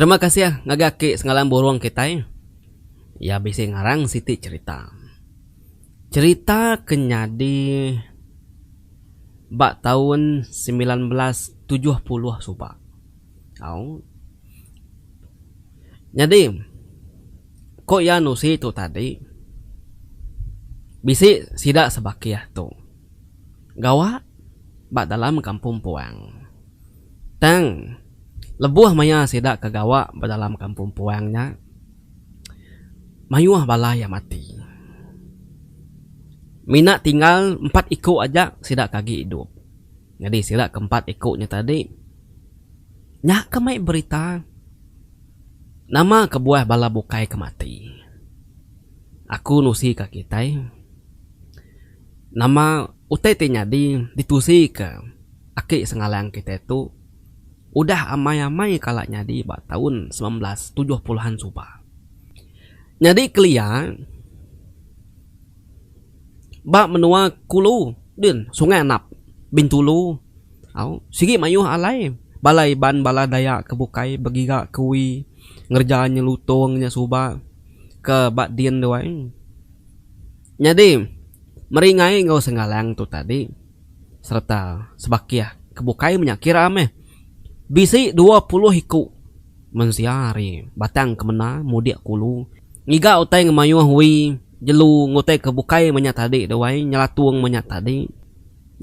Terima kasih ngagai aki Sengalan Burong kitai. Iya bisi ngarang siti cherita. Cherita ke nyadi ba taun semilan belas tujuh puluh suba. Au. Nyadi ko iya nusi tu tadi bisi sida sebakih tu gawa ba dalam kampung puang. Tang lebuh maya sida ke gawa ba dalam kampung puang nya mayuh bala iya mati. Mina tinggal empat iku aja sida ke agi idup. Nyadi sila ke empat iku nya tadi. Nya ke mai berita. Nama kebuah bala bukai ke mati. Aku nusi ka kitai. Nama utai ti nyadi ditusi ka aki sengalang kitai tu udah amai amai kala nyadi ba taun semilan belas tujuh puluh an suba. Nyadi kelia. Ba menua kulu din sungai anap bintulu au sigi mayuh alai bala iban bala dayak ke bukai begiga kui ngereja nya lutong nya suba ke ba din dua ai nyadi meri ngai enggau senggalang tu tadi sereta sebakih ke bukai menya kira meh bisi dua puluh iku. Mensia ari Batang Kemena mudik kulu ngiga utai ngemayuh wi jelu ngutai ke bukai menya tadi deh wai nyelatung menya tadi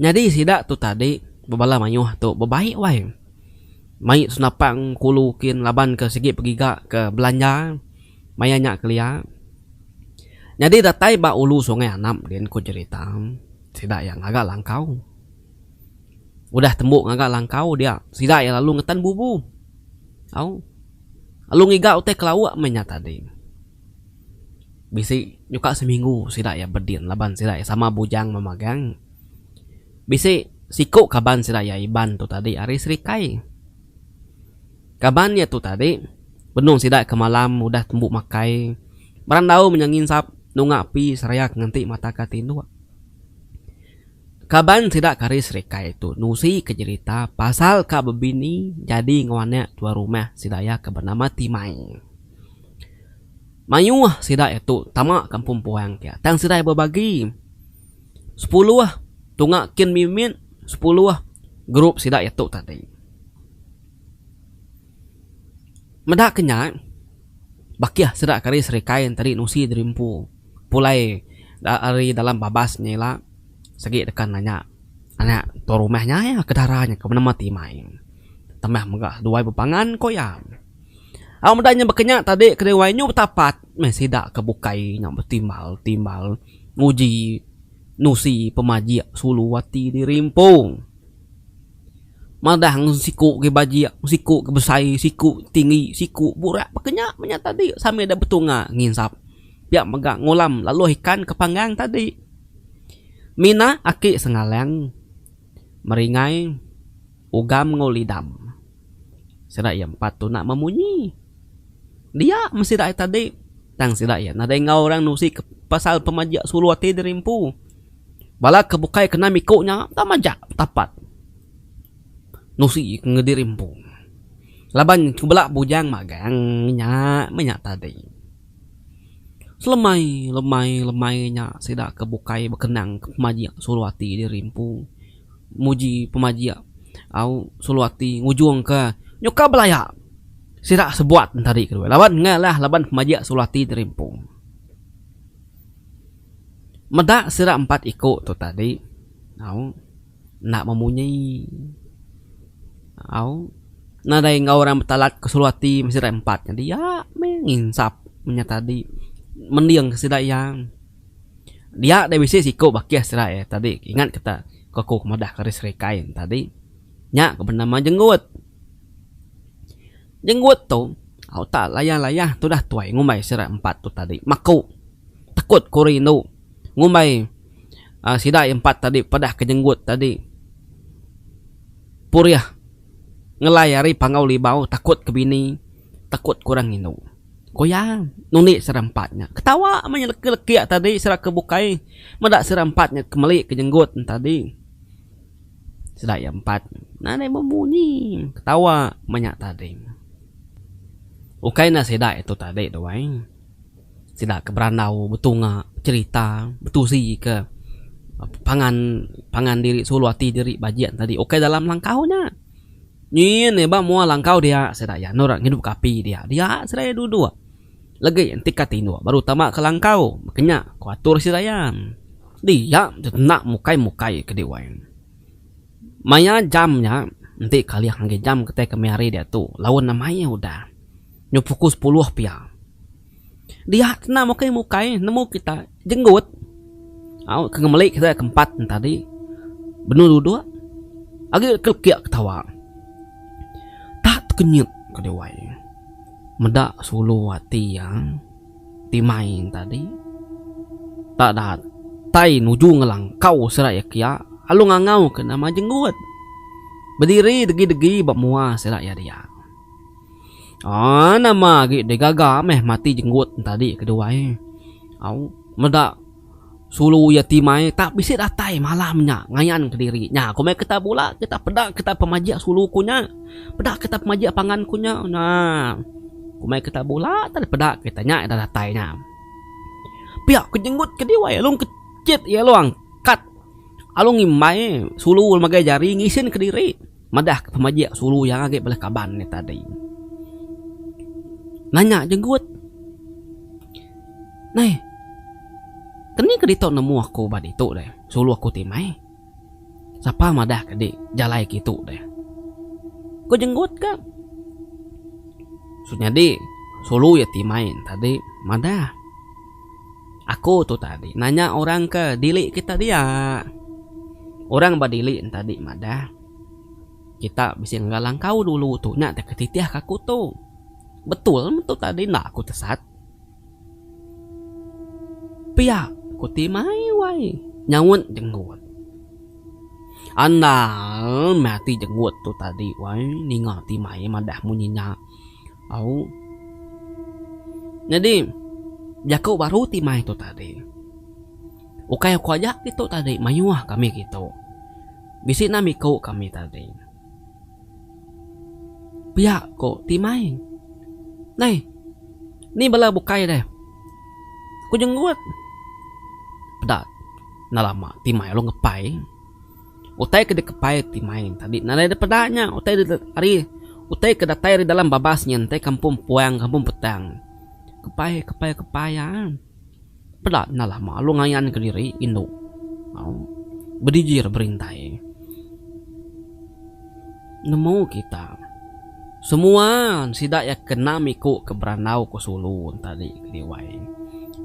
nyadi sida tu tadi bebala mayuh tu bebaik wai mai senapang kulu kin laban ke sigi pegiga ke belanja maya nya kelia nyadi datai ba ulu sungai anap din ku jerita sida iya ngaga langkau. Udah tembu ngaga langkau dia, sida iya lalu ngetan bubu. Au. Lalu ngiga utai kelauk meh nya tadi. Bisi nyuka seminggu sida iya bedin laban sida iya sama bujang memagang. Bisi siku kaban sida iya Iban tu tadi ari Serikai. Kaban iya tu tadi benung sida ke malam udah tembu makai, berandau meh nya nginsap nunga api serayak nganti mata ka tinduk. Kaban sida Karis Rikai tu nusi ke jerita pasal ka bebini jadi enggau anak tuan rumah sida iya ke benama Timai. Mayuh sida iya tu tama kampung Puang ke tang sida iya bebagi sepuluh tunga kin mimit sepuluh grup sida iya tu tadi. Meda ke nya, bakih sida kari serikai enteri nusi diri empu pulai ari dalam babas nya ila sagi deka nanya anak tua rumah nya iya ke dara nya ke menema ti mai tambah mega duai bepangan ku iya. Au meda nya baka nya tadi ke diri nyu betapat meh sida ke bukai nya betimbal timbal nguji nusi pemajik sulu ati diri empu. Madah ngan siku ke bajik, siku ke besai, siku ke tinggi, siku ke burak baka nya meh nya tadi sambil deh betunga nginsap. Pia mega ngulam laluh ikan ke panggang tadi. Mina aki sengaleng meringai ugam enggau lidam. Sida iya empat tu nak memunyi. Dia meh sida iya tadi. Tang sida iya nadai enggau orang nusi ke pasal pemajak sulu ati diri empu. Bala ke bukai kena miku nya enda majak betapat nusi enggau diri empu. Laban ku bala bujang magang inya meh nya tadi. Selemai lemai lemai nya sida ke bukai bekenang ke pemajak sulu ati diri empu. muji pemajik au sulu ati ngujung ke nyuka belaya sida sebuat entari ke dulu laban nya lah laban pemajik sulu ati terimpung meda sida empat iku tu tadi au enda memunyi au nadai enggau orang betalat ke sulu ati sida empat nya dia meh nginsap nya tadi mending sida iya. Dia deh bisi siku bakih serai eh tadi ingat ke ta ko aku ke madah keris rikai ne tadi nya ke benama jenggut. Jenggut tu au ta layah layah tudah tuai ngumbai sida empat tu tadi maku tekut ku rindu ngumbai aaa sida aye empat tadi padah ke jenggut tadi purih ngelai ari pangau libau tekut ke bini. Takut kurang indu. Ko iya, nundi sera empat nya. Ketawa meh nya leki leki tadi sera ke bukai meda sera empat nya ke meli ke jenggut nya tadi. Sera iya empat nadai bemunyi ketawa meh nya tadi. Ukai enda sida itu tadi tu ai. Sida ke berandau betunga becerita betusi ke pangan pangan diri sulu ati diri bajik tadi ukai dalam langkau nya. Nyin iba mua langkau dia sida iya endor ngidupka api dia. Dia sida iya duduk legi entika tinduk baru tama ke langkau kenya ku atur sida iya. Dia tu enda mukai-mukai ke di wai. Maya jam nya enti kalih ngagai jam kitai kami hari diatu laun mayuh udah. Nyu puku sepuluh pia. Dia kena mukei mukai nemu kita jenggut au ke ngemeli kita ke empat tadi benung duduk agi ke lekik ketawa tak tekenyit ke dewai meda sulu ati iya ti main tadi tak datai nuju ngelangkau sida iya kiya lalu ngangau ke nama jenggut bediri degi degi ba mua sida iya diak. Aa nama agi deh gaga meh mati jenggut entadi kedua ai. Au meda sulu iya ti mai tak bisi datai malam nya ngayan kediri. Nya ku meh kita bula kita peda kita pemajik sulu ku nya. Peda kita pemajik pangan ku nya. Naa ku meh kita bula tah deh peda kita nya dah datai nya. Pia ku jenggut ke diwai alung ke chit iya alung angkat alung imbai sulu magai jari ngisin kediri. Madah ke pemajik sulu iya agi bala kaban iya tadi. Nanya jenggut. Neh. Keni ke ditu nemu aku ba ditu deh. Sulu aku ti meh. Sapa madah ke di jalai kitu deh. Ku jenggut ka. Nyadi sulu iya ti mai tadi madah. Aku tu tadi nanya orang ke dili kita dia. Orang ba dili nya tadi madah, Kita bisi ngagai langkau dulu tu nya deka titihka aku tu. Betul meh tu tadi enda aku tesat. Pia ku ti mai wai nyaut jenggut. Andal meh ati jenggut tu tadi wai ninga ti mai madah munyi nya. Au. Nyadi jaku baru ti mai tu tadi, ukai aku aja ditu tadi mayuh kami ditu. Bisi nam iku kami tadi. Pia ku ti mai. Neh. Ni bala bukai deh. Ku jenggut. Peda. Enda lama ti mai lalu ngepai. Utai ke dikepai ti main tadi nadai dipeda nya utai ari utai ke datai ari dalam babas nya ntai kampung puang kampung petang. Kepai kepai kepai iya eh. Peda enda lama lalu ngayan kediri indu. Au. Bedijir berintai. Nemu kita. Semua sida iya kena miku ke berandau ke sulu tadi ke Diwai.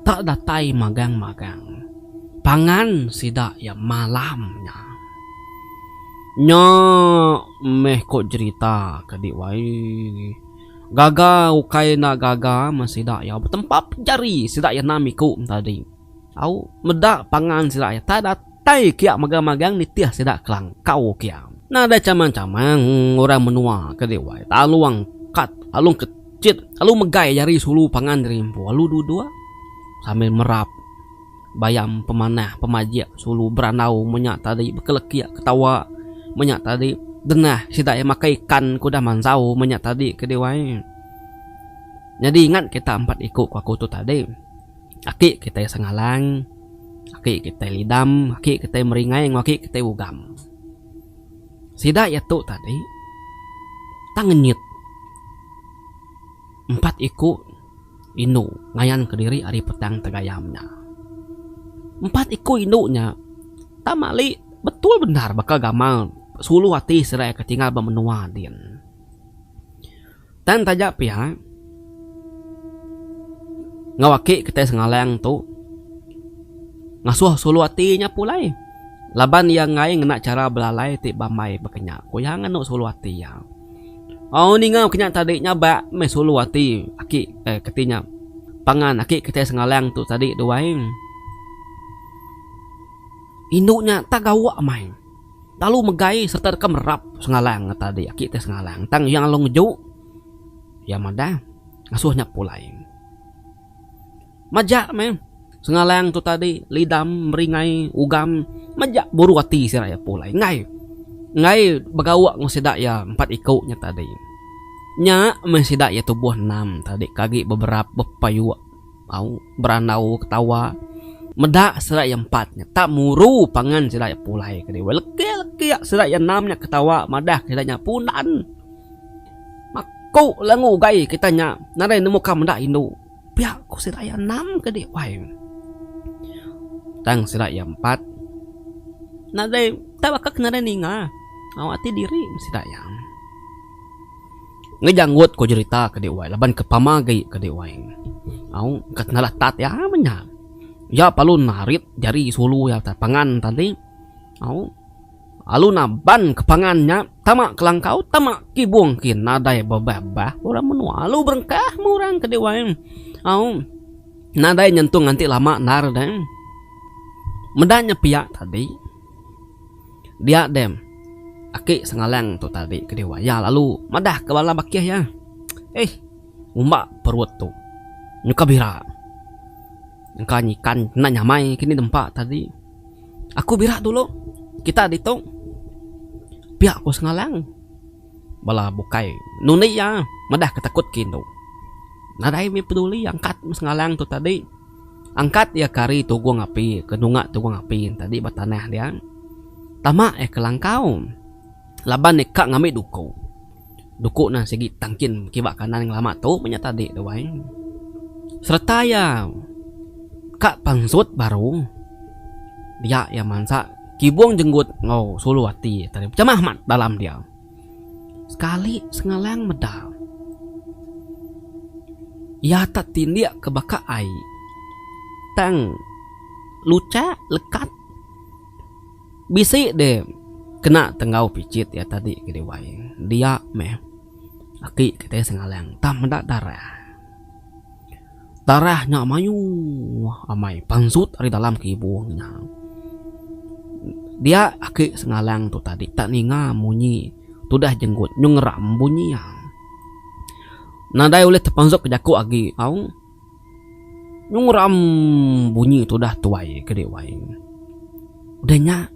Tak datai magang magang. Pangan sida iya malam nya. Nya meh ko jerita ke Diwai. Gaga ukai enda gaga meh sida iya betempap jari sida iya enda miku tadi. Au meda pangan sida iya tai datai kia megang megang nitih sida kelangkau kia. Nadai chamang chamang orang menua ke diwai talung kat talung ke chit lalu megai jari sulu pangan diri empu lalu duduk sambil merap bayam pemanah pemajik sulu berandau menya tadi bekelekik ketawa menya tadi dengah sida iya makai ikan ke udah mansau menya tadi ke diwai. Nyadi ingat kita empat iku ke aku tu tadi. Aki kitai Sengalang, aki kitai Lidam, aki kitai Meringai enggau aki kitai Ugam. Sida iya tu tadi tang ngenyit empat iku indu ngayanka diri ari Petang Tegayam nya. Empat iku indu nya tang mali betul bendar baka gamal sulu ati sida iya ke tinggal ba menua din. Tang taja pia, enggau aki kitai Sengalang tu ngasuh sulu ati nya pulai laban iya enggai ngena chara belalai ti bambai baka nya ku iya nganu sulu ati iya. Au ninga baka nya tadi nya ba meh sulu ati aki eh kati nya pangan aki kitai Sengalang tu tadi duai. Indu nya tak gawa meh. Lalu megai sereta deka merap Sengalang ngata adi aki ti Sengalang tang iya lalu ngeju iya madah ngasuh nya pulai. Majak meh Sengalang tu tadi lidam meringai ugam majak buru ati sida iya pulai enggai enggai begauk enggau sida iya empat iku nya tadi. Nya meh sida iya tubuh enam tadi ke agi beberap bepayuk. au berandau ketawa meda sida iya empat nya tak muru pangan sida iya pulai ke diau leki leki sida iya enam nya ketawa madah ke ida nya punan maku lah enggau ugai kita nya nadai nemu ka meda indu pia ku sida iya enam ke di wai tang sida iya empat nadai tak baka ke nadai ninga au ati diri sida iya. Ngejanggut ko jerita ke dek wai laban ke pama agi ke dek wai au ka tenalah tat iya menya iya palu narit jari sulu iya ka pangan tadi au alu naban ke pangan nya tama ke langkau tama ke ibong ke nadai bebah bah orang menua alu berengkah meng orang ke dek wai au nadai nyentung nganti lama endar deh meda nya pia tadi. Dia dem. Aki Sengalang tu tadi ke diwa iya lalu madah ke bala bakih iya. Eih. Ngumba perut tu. Nyuka bira. Engka nyikan enda nyamai kini nempa tadi. Aku bira dulu. Kita ditu. Pia ku Sengalang. Bala bukai nundi iya madah ke takut ke indu. Nadai mih peduli angkat Sengalang tu tadi. Angkat iya ke ari tugung api ke nunga tugung api tadi ba tanah dia. Tama iya ke langkau laban iya ka ngambi duku. Duku nan sigi tangkin kiba kanan ngelama tu meh nya tadi tu ai. Sereta iya ka pansut baru dia iya mansa kibung jenggut enggau sulu ati tadi pecamah amat dalam dia. sekali sengalang meda iya tak tindik ke baka ai tang luchak lekat bisi de kena tenggau pichit iya tadi ke dewai dia meh aki kitai sengalang tang meda darah. Tarah nya mayuh amai pansut ari dalam ke ibung nya. Dia ake sengalang tu tadi tak ninga munyi tudah jenggut nyung ngeram bunyi iya. Nadai ulih tepansut ke jaku agi tau. Nyung ngeram bunyi tudah tuai ke dih wai. Udah nya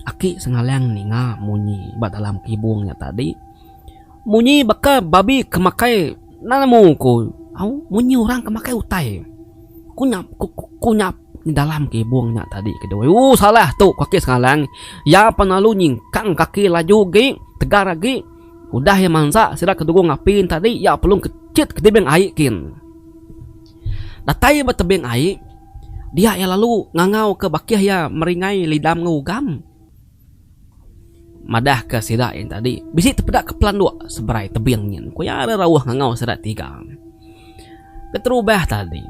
ake sengalang ninga munyi ba dalam ke ibung nya tadi. Munyi baka babi ke makai nemu ku au munyi orang ke makai utai ku nyap ku ku nyap dalam ke ibung nya tadi ke doi u salah tu ku ake sengalang iya pun lalu nyingkang kaki laju agi tegar agi udah iya mansa sida ke dukung api tadi iya pelum kechit ke tebing ai kin. Datai ba tebing ai dia iya lalu ngangau ke bakih iya meringai lidam enggau ugam. Madahka sida yang tadi bisi tepeda ke pelanduk seberai tebing nyin ku iya ari rauh ngangau sida tiga. Keterubah tadi,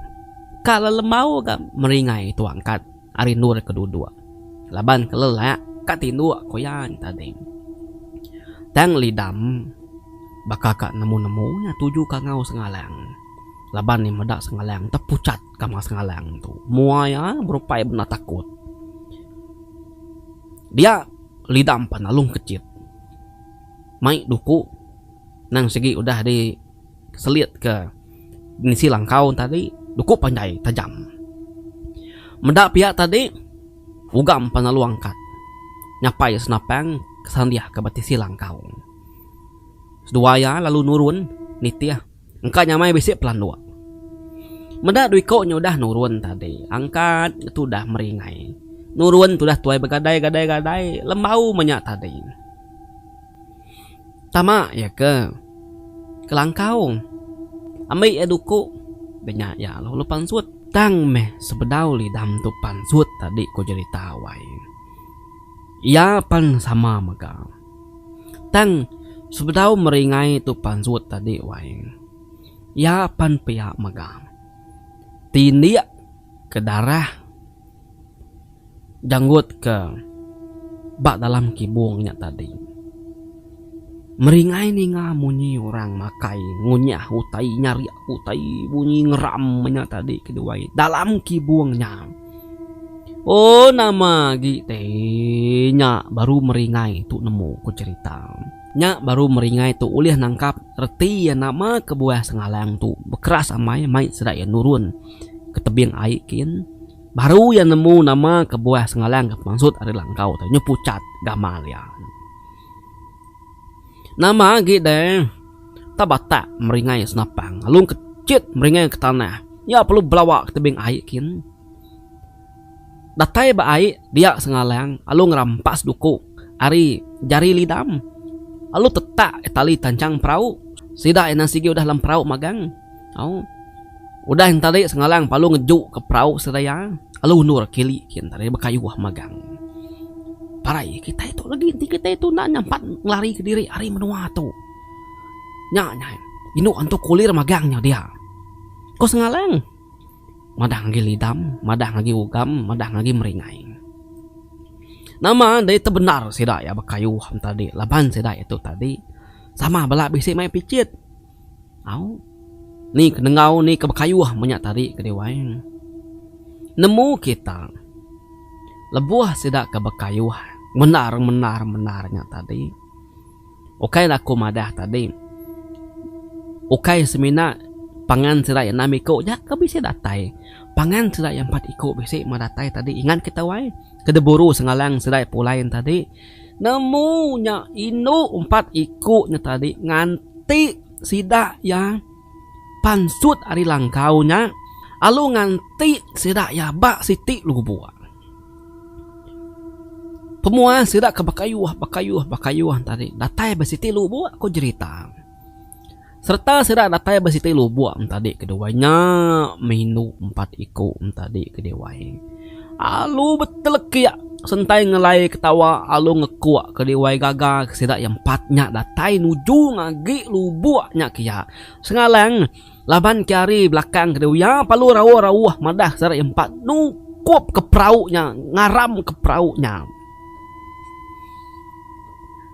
ka lelembau ga meringai tua angkat ari endur ke duduk laban ke lelak ka tinduk ku iya nya tadi. Tang Lidam baka ka nemu-nemu iya tuju ka ngau Sengalang laban iya meda Sengalang tepuchat. Kama Sengalang tu mua iya berupai bendar takut. Dia lida empan Alung Kechit mai duku nang sigi udah di selit ke ngisi langkau tadi duku panjai tajam. Meda pia tadi uga empan lalu angkat nyapai senapang ke sandih ke betisi langkau. Seduai iya lalu nurun nitih. Engka nyamai bisi pelanduk. Meda dua iko nyo udah nurun tadi. Angkat tu udah meringai. Nurun tu udah tuai begadai gadai gadai. Lembau meh nya tadi. Tama iya ke kelangkau. Ambi iya duku. Be nya iya lalu pansut. Tang meh sebedau lidam tu pansut tadi ko jerita wai. Iya pan sama mega. Tang, sebedau meringai tu pansut tadi wai, iya pan pia mega tindik ke darah janggut ke ba dalam kibung nya tadi. Meringai ninga munyi orang makai ngunyah utai nyarik utai bunyi ngeram nya tadi ke diwai dalam kibung nya. Oh nama agi te nya baru meringai tu nemu ku cerita. Nya baru meringai tu ulih nangkap reti iya nama kebuah sengalang tu bekeras amai mai sida iya nurun ke tebing ai kin. Baru iya nemu nama kebuah sengalang ke pemansut ari langkau tu nyu pucat gamal iya. Nama agi deh tau batak meringai senapang lalu engke chit meringai ke tanah nya perlu belawa ke tebing ai kin. Datai ba ai dia sengalang lalu ngerampas duku ari jari lidam lalu tetak tali tanchang perau sida ina sigi udah lem perau magang. Au. Udah nya tadi Sengalang palu ngejuka perau sedia iya, lalu undur kili kian tadi bekayuh magang. Parai kitai tu legi enti kitai tu enda nyampat ngelari kediri ari menua tu. Nya nyai indu antu kulir magang nya dia, ku Sengalang madah ngagai lidam, madah ngagai ugam, madah ngagai meringai. Nama dei tu bendar sida iya bekayuh nya tadi laban sida iya tu tadi sama bala bisi mai picit. Au. Ni ke nengau ni ke bekayuh menya tadi ke diwai. Nemu kita lebuh sida ke bekayuh mendar mendar mendar nya tadi ukai la aku madah tadi ukai semina pangan sida iya enam iku aja ke bisi datai pangan sida iya empat iku bisi meh datai tadi ingat kita wai ke diburu sengalang sida iya pulai tadi. Nemu nya indu empat iku nya tadi nganti sida iya pansut ari langkau nya lalu nganti sida iya ba siti lubuk. Pemuah sida ke bekayuh bekayuh bekayuh tadi datai ba siti lubuk ku jerita. Sereta sida datai ba siti lubuk entadi keduai nya meh indu empat iku entadi keduai. Alu betelekik sentai ngelai ketawa alu ngekuk keduai gaga ke sida iya empat nya datai nuju ngagi lubuk nya ke iya Sengalang laban ke ari belakang keduai iya palu rauh-rauh madah sida iya empat nukupka perau nya ngaramka perau nya.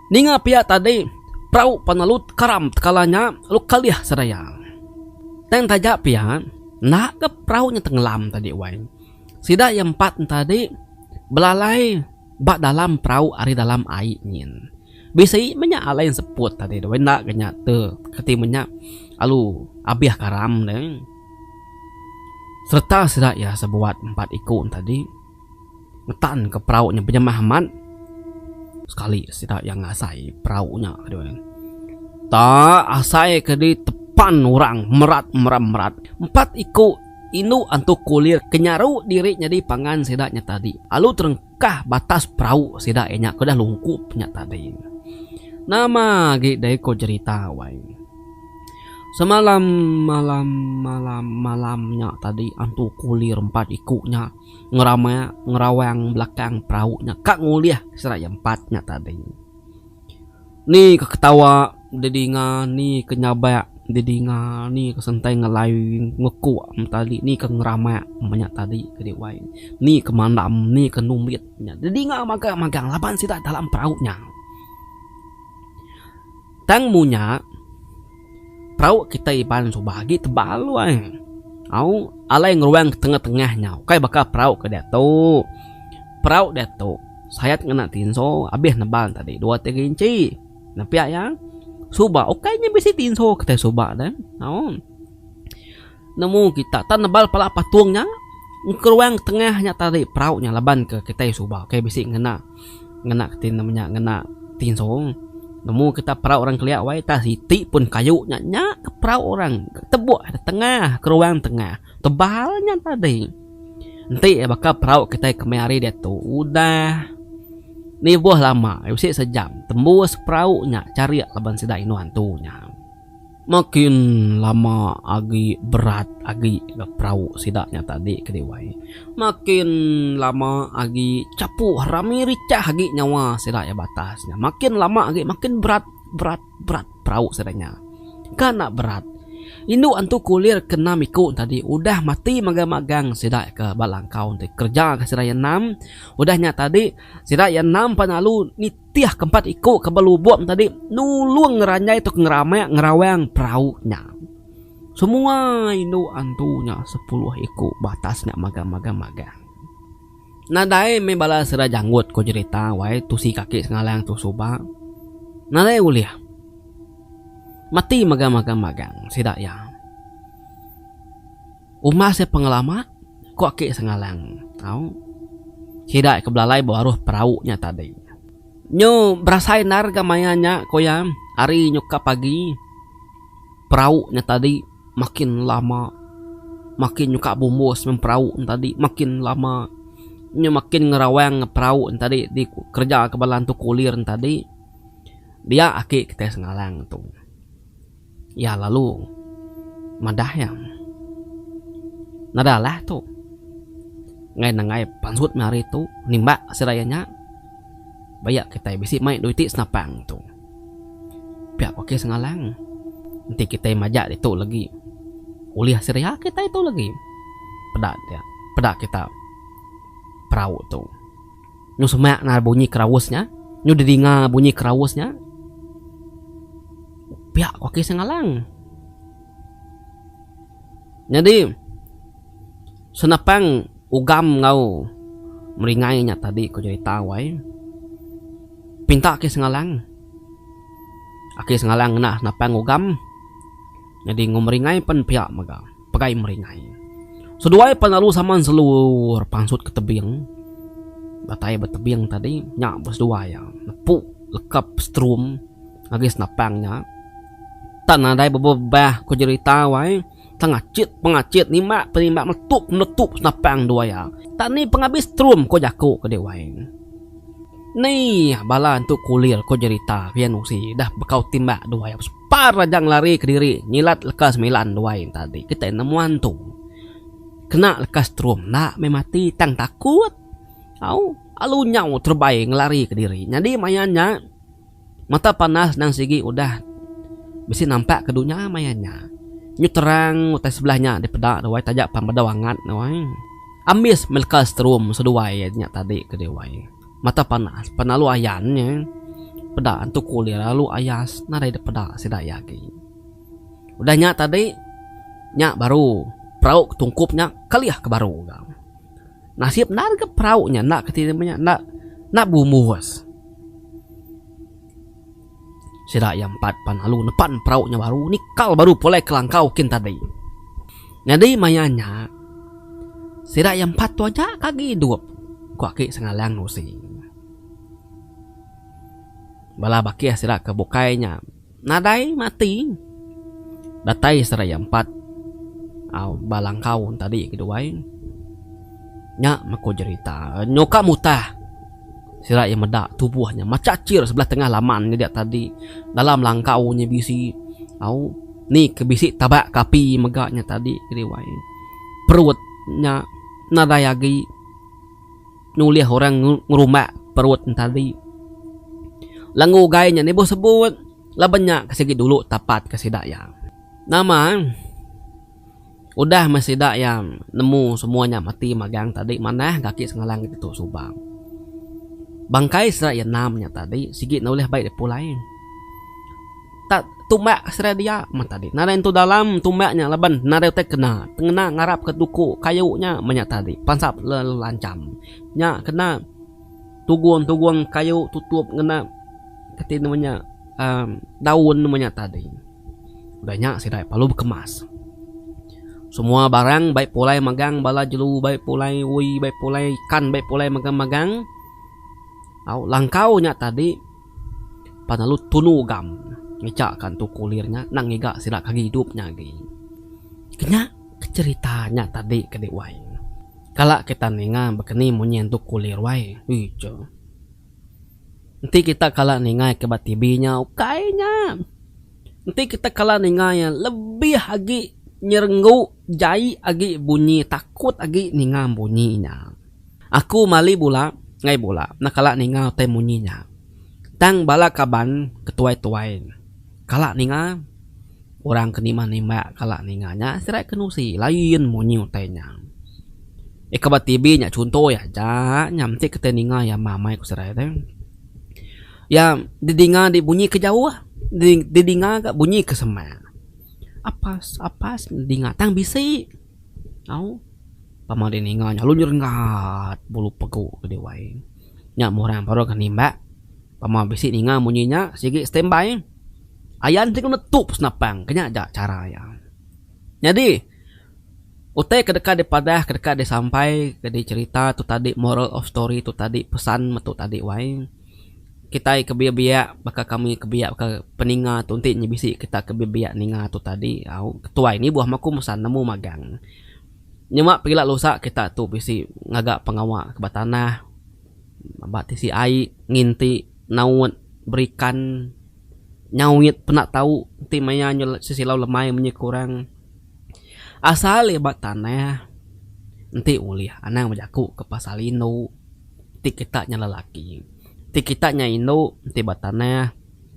Ninga pia tadi, perau penelut karam tekala nya lalu kelih seraya. Tang taja pia, enda ga perau nya tengelam tadi wai. Sida iya empat enti adi belalai ba dalam perau ari dalam ai nyin. Bisi menya alai seput tadi deh wai enda ga nya te keti menya lalu abih karam deh sereta sida iya sebuat empat iku enti adi. Ngetan ke perau nya benyemah amat. Sekali sida iya ngasai perau nya ke due. Ta asai ke di tepan orang merat meram merat. Empat iku indu antu kulir ke nyaru diri nyadi pangan sida nya tadi alu terengkah batas perau sida iya nya ke udah lungkup nya tadi. Nama agi deh ko jerita wai. Semalam malam malam malam nya tadi antu kulir empat iku nya. ngerama ngerawang belakang perau nya ka ngulih seraya empat nya tadi. Ni ke ketawa didinga ni ke nyabak didinga ni ke sentai ngelai ngekuk tadi ni ke ngerama meh nya tadi ke dih wai ni ke mandam ni ke numbit nya didinga magang magang laban sida dalam perau nya. Tang munya perau kitai Iban suba agi tebal luai. Au, alai ngeruang ke tengah-tengah nya ukai baka perau ke diatu. Perau diatu sayat ngena tinso abih nebal tadi dua tiga inchi. Nepia iya, suba ukai nya bisi tinso kitai suba deh. Au. Nemu kita tang nebal pala patung nya engkeruang tengah nya tadi perau nya laban ke kitai suba ukai bisi ngena ngena ti nama nya ngena tinso. Nemu kita perau orang kelia wai tang siti pun kayu nya nya ke perau orang tebuk ida tengah keruang tengah tebal nya tadi. Enti baka perau kitai ke meh hari diatu udah nibuh lama bisi sejam tembus perau nya charik laban sida inu antu nya. Makin lama agi berat agi ga perau sida nya tadi ke Dewan. Makin lama agi chapu rami richah agi nyawa sida iya batas nya. Makin lama agi makin berat berat berat perau sida nya. Ka enda berat indu antu kulir ke enam iku tadi udah mati magang magang sida ke ba langkau ti kerja ka sida iya enam udah nya tadi sida iya enam pan lalu nitih. Tih keempat iku ke belubong tadi nulung ngeranjai tau ke ngeramak ngerawang perau nya. Semua indu antu nya sepuluh iku batas nya magang-magang magang. Nadai meh bala sida janggut ko jerita wai tusi kaki sengalang tu suba. Nadai ulih meti magang-magang magang sida iya. Uma sia pengelama, ku aki Sengalang. Au. Sida ke belalai bewaruh perau nya tadi. Nyu berasai endar ga maya nya, ku iya. Hari nyukap agi, perau nya tadi makin lama. Makin nyukap bumbus mung perau nya tadi makin lama. Nyu makin ngerawang perau nya tadi dikereja ke bala Entu Kulir nya tadi. Dia aki kitai Sengalang tu. Iya lalu madah iya, Nada lah tu. Enggai nenggai pansut meh hari tu nimbak sida iya nya. Ba iya kitai bisi mai dua iti senapang tu. Pia ku Kes Ngalang, Enti kitai majak ditu lagi ulih sida iya kitai tu lagi peda peda kita perau tu. Nyu semak nal bunyi keraus nya. Nyu dedinga bunyi keraus nya. Piak ku aki Sengalang. Nyadi senapang ugam enggau meringai nya tadi ku jerita wai. Pinta aki Sengalang. Aki Sengalang ngena senapang ugam. Nyadi enggau meringai pen piak mega. pegai meringai. Seduai pan lalu saman selur pansut ke tebing. Datai ba tebing tadi nya ba seduai iya nepu lekap strum ngagai senapang nya. Tan nadai bebebah ko jerita wai tengachit pengachit nimba penimba meletup meletup senapang dua iya. Tak ni pengabis strum ko jaku ke dek wai. Ni bala entu kulir ko jerita pian usi dah bekau timba dua iya. Par aja ngelari kediri nyilat leka semilan duai enta agi kitai nemu antu. Kena leka strum enda meh mati tang takut. Au alu nyau terebai ngelari kediri nyadi maya nya mata panas endang sigi udah bisi nampak ke dunya maya nya. Nyu terang utai sebelah nya dipeda duai taja pan bedau angat duai. Ambis meh leka strum seduai nya tadi ke duai. Mata panas pan alu ayan nya. Peda antu kulir alu ayas nadai dep peda sida iya agi. Udah nya tadi nya baru perau ke tungkup nya kelih ke baru ga. Nasib enda legi perau nya enda kati nama nya enda bumbus. Sida iya empat pan lalu nepan perau nya baru nikal baru pulai ke langkau kin tadi. Nyadi maya nya sida iya empat tu aja ke agi idup ku aki Sengalang Rusi. Bala bakih sida ke bukai nya nadai mati. Datai sida iya empat ba langkau tadi kiduai. Nya meh ku jerita nyuka mutah. Sida iya meda tubuh nya macacir sebelah tengah laman nyadi tadi. Dalam langkau nya bisi au ni ke bisi tabak ke api mega nya tadi Wai. Perut nya nadai agi nulih orang ngerumbak perut nya tadi. Lenga ugai nya nibuh sebut laban nya ke sigi dulu tapat ke sida iya. Nama. Udah meh sida iya nemu semua nya mati magang tadi manah kaki sengalang nya ditu Subang. Bangkai sida iya enam nya tadi sigi enda ulih bai dipulai. Tak tumbak sida dia meh tadi nadai nentu dalam tumbak nya laban nadai utai kena tengena ngarap ke tuku kayu nya meh nya tadi pansap lalu lancham nya kena tugung-tugung kayu tutup ngena reti nama nya uhh daun meh nya tadi. Udah nya sida lalu bekemas. Semua barang baik pulai magang bala jelu baik pulai ui baik pulai ikan baik pulai magang-magang au langkau nya tadi pan lalu tunu gam ngejak ka entu kulir nya nang ngiga sida ke agi idup nya agi. Kenya ke cerita nya tadi ke dek wai. Kala kita ninga bekeni munyi entu kulir wai. Ih cheh. Enti kita kala ningai ke ba TV nya ukai nya. Enti kita kala ningai iya lebih agi nyerenggu jai agi bunyi takut agi ninga bunyi nya. Aku mali bula enggai bula enda kala ninga utai munyi nya. Tang bala kaban ke tuai-tuai kala ninga Orang ke nimbak nimbak kala ninga nya sirat ke nusi lain munyi utai nya. Ika ba TV nya chuntoi aja nya mesti kitai ninga iya mamai ku sirat ai. Iya didinga di bunyi ke jauh didinga ga bunyi ke semak. Apas apas didinga tang bisi au pama ding ninga nya lalu nyerenggat bulu pegu ke diwai. Nya meh orang baru ke nimbak pama bisi ninga munyi nya sigi standby. Ayan ti kena tu senapang ke nya ja chara iya. Nyadi utai ke deka dipadah ke deka disampaika di cherita tu tadi moral of story tu tadi pesan metu tadi wai kitai ke biak-biak baka kami ke biak baka peninga tu enti nya bisi kita ke biak-biak ninga tu tadi au ketuai ni buah maku mesan nemu magang. Nyema pila lusa kita tu bisi ngaga pengawa ke ba tanah ba tisi ai nginti naut berikan. Nyau mit pena tau enti maya nyu sesilau lemai menyuh ke orang. Asal iya ba tanah enti ulih anang bejaku ke pasal indu ti kita nya lelaki. Ti kita nya indu enti ba tanah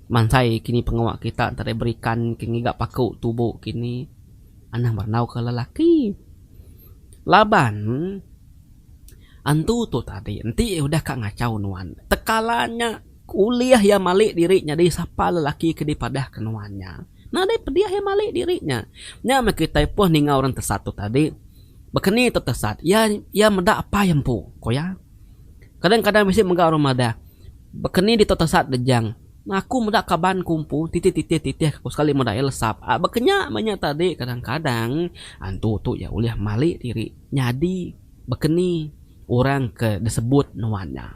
mansai kini pengawa kita enti deh berikan ke ngiga paku tubo kini anang berandau ke lelaki. Laban antu tu tadi enti udah ka ngachau nuan tekala nya. Ku ulih iya malik diri nya di sapa lelaki ke dipadah ke nuan nya. Nadai pedih iya malik diri nya. Nya meh kitai poh ninga orang tesat tu tadi. Bekeni tu tesat, iya iya meda apai empu, ku iya. Kadang kadang bisi mega orang madah, Bekeni ditu tesat Dejang. Aku meda kaban ku empu, titih titih titih ke ku sekali meda iya lesap. A baka nya meh nya tadi kadang kadang antu tu iya ulih malik diri nyadi bekeni orang ke disebut nuan nya.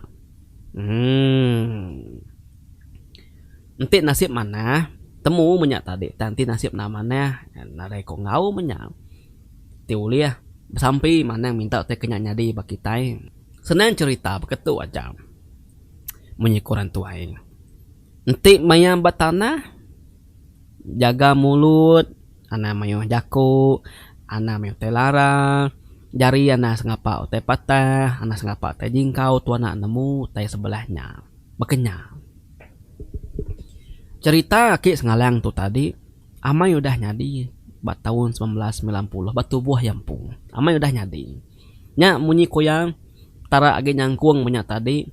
Enti nasib manah temu menya tadi tang enti nasib enda manah nadai ko enggau menya ti ulih besampi manang minta utai ke nya nyadi ba kitai senang cerita baka tu aja mung iku orang tuai enti maya ba tanah jaga mulut. Anang mayuh jaku, anang mayuh utai lara, jari anang sengapa utai patah, anang sengapa utai jingkau tu anak nemu utai sebelah nya. Baka nya. Cherita aki Sengalang tu tadi amai udah nyadi ba taun semilan belas semilan puluh ba tubuh iya empu. Amai udah nyadi. Nya munyi ku iya, Petara agi nyangkung menya tadi.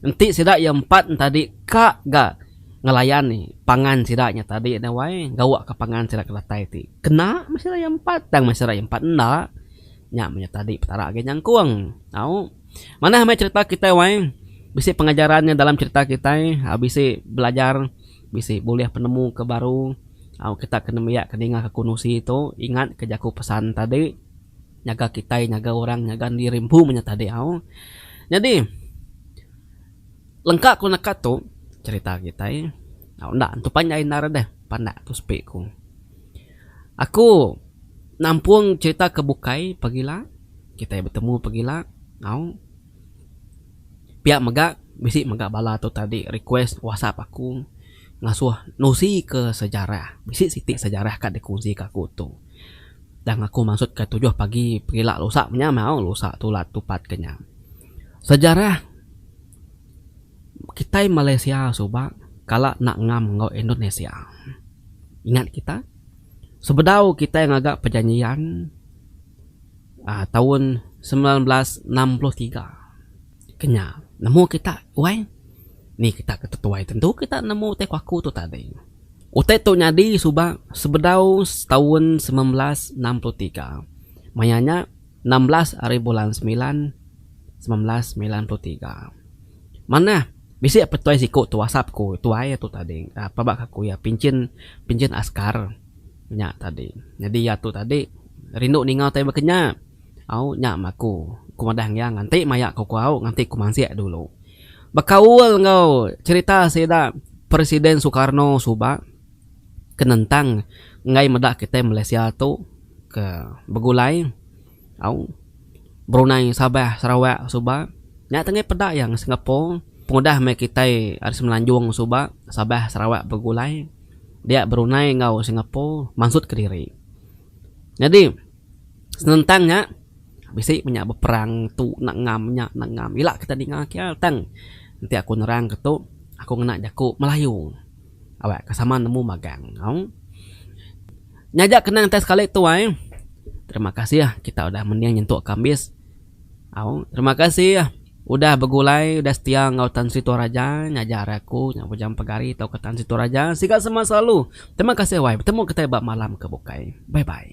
Enti sida iya empat entadi ka ga ngelayan pangan sida nya tadi enda wai gawa ka pangan sida ke datai ti. Kena meh sida iya empat tang meh sida iya empat enda. Nya menya tadi Petara agi nyangkung. Au. Manah meh cherita kitai wai. Bisi pengajaran nya dalam cherita kitai. Au bisi belajar bisi bulih penemu ke baru. Au kita kena nembiak ke ninga ke kunsi tu ingat ke jaku pesan tadi. nyaga kitai nyaga orang nyaga enda diri empu meh nya tadi au nyadi lengka ku neka tu cerita kitai au enda tu panjai endar deh pandak tu sepi ku aku nampung cerita ke bukai pegila kitai betemu pegila au pia mega bisi mega bala tu tadi request whatsapp aku ngasuh nusi ke sejarah bisi siti sejarah ka dikongsi ka aku tu. Tang aku maksud ka tujuh pagi pengila lusa menya mau lusa tu la tupat ke nya. Sejarah kitai Malaysia suba kala enda ngam enggau Indonesia. Ingat kita sebedau kitai ngaga perjanjian aaa taun semilan belas enam puluh tiga. Ke nya nemu kita wai. Ni kita ke tetuai tentu kita nemu utai kuaku tu tadi. Utai tu nyadi suba sebedau setaun semilan belas enam puluh tiga. Maya nya enam belas ari bulan semilan semilan belas semilan puluh tiga. Manah bisi petuai siku tu whatsapp ku tuai tu tadi ap aba ke aku iya pinchin pinchin askar nya tadi. Nyadi iya tu tadi rindu ninga utai baka nya. Au nya ma aku. Ku madah ngiang nganti maya ko ku au nganti ku mansik dulu. Bekaul enggau cerita sida Presiden Sukarno suba ke nentang enggai meda kitai Malaysia tu ke begulai au Brunei Sabah Sarawak suba nya tu enggai peda iya enggau Singapore pengudah meh kitai ari semenanjung suba Sabah Sarawak begulai dia Brunei enggau Singapore mansut kediri. Nyadi. Senentang nya bisi menya beperang tu enda ngam nya enda ngam ila kita ninga kial tang enti aku nerang ke tu aku ngena jaku melayu awak ke sama nemu magang nyau nyaja kenang sekali tuai terima kasih kita udah mending nyentuk ke ambis. Au, terima kasih udah begulai, udah setia enggau Tan Sri Toraja ngajar aku nya Bujang Pegari tauka Tan Sri Toraja. Siga semak selalu. Terima kasih wai. Betemu kitai ba malam ke bukai. Bye bye.